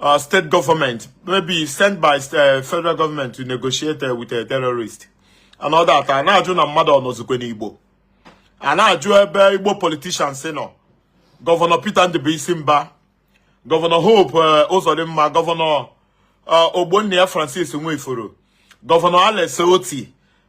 uh, state government, maybe sent by uh, federal government to negotiate uh, with a terrorist. And all that. A na-ajụ na mmadụ ọnọzikwe n'Igbo. A na-ajụ ebe Igbo politicians nọ. Gọvanọ Peter Ndụbụisi Mbah, Gọvanọ Hope uh, Uzodimma, Gọvanọ uh, Ogbonnia Francis Nwifuru, Gọvanọ Alex Otti,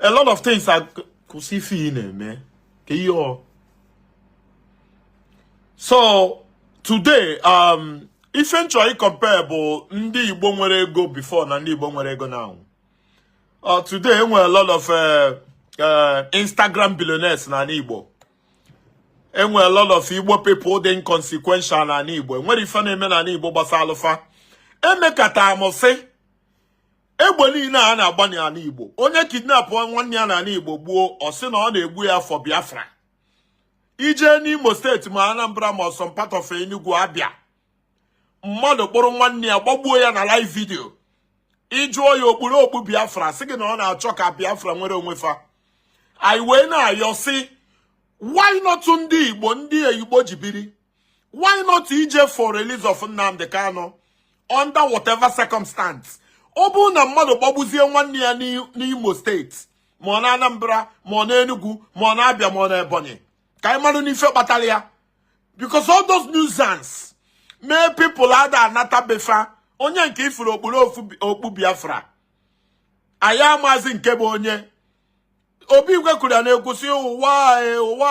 a lot of things are kwụsị ife ị na-eme ka ihe ọ so today um, ife m chọ ịcompare bụ ndị Igbo nwere ego before na ndị Igbo nwere ego now uh, today enwere a lot of uh, uh, Instagram billionaires na Igbo enwere a lot of Igbo people dị inconsequential na Igbo enwere ife na-eme na Igbo gbasaalụ fa emekata amụsị egbe niile a na-agba n'ani Igbo onye kidnapụ nwanne ya n'ani Igbo gbuo ọ sị na ọ na-egbu ya for Biafra i jee n'Imo steeti ma Anambra ma some part of Enugu Abia mmadụ kpụrụ nwanne ya gbagbuo ya na live vidio ị jụọ ya o kpuru okpu Biafra sị gị na ọ na-achọ ka Biafra nwere onwe fa anyị wee na-ayọ sị why not ndị Igbo ndị Igbo ji biri why not ije for release of Nnamdi Kanu under whatever circumstance ọ bụrụ na mmadụ gbagbuzie nwanne ya n'Imo steeti ma ọ na Anambra ma ọ na Enugu ma ọ na Abia ma ọ na Ebonyi ka anyị marụ n'ife kpatara ya because all those nuisance mee people ada anata be fa onye nke ị fụrụ okpuru okpu Biafra anyị amazi nke bụ onye ọ bụ igwe kwuru ya na-ekwusị ụwa ụwa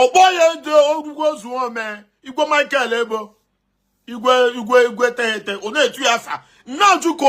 ọkpọ ya ndị ogwugwu ozuome igwe michael ebo igwe igwe igwe teghete ọ na-etu ya afa nna ajụko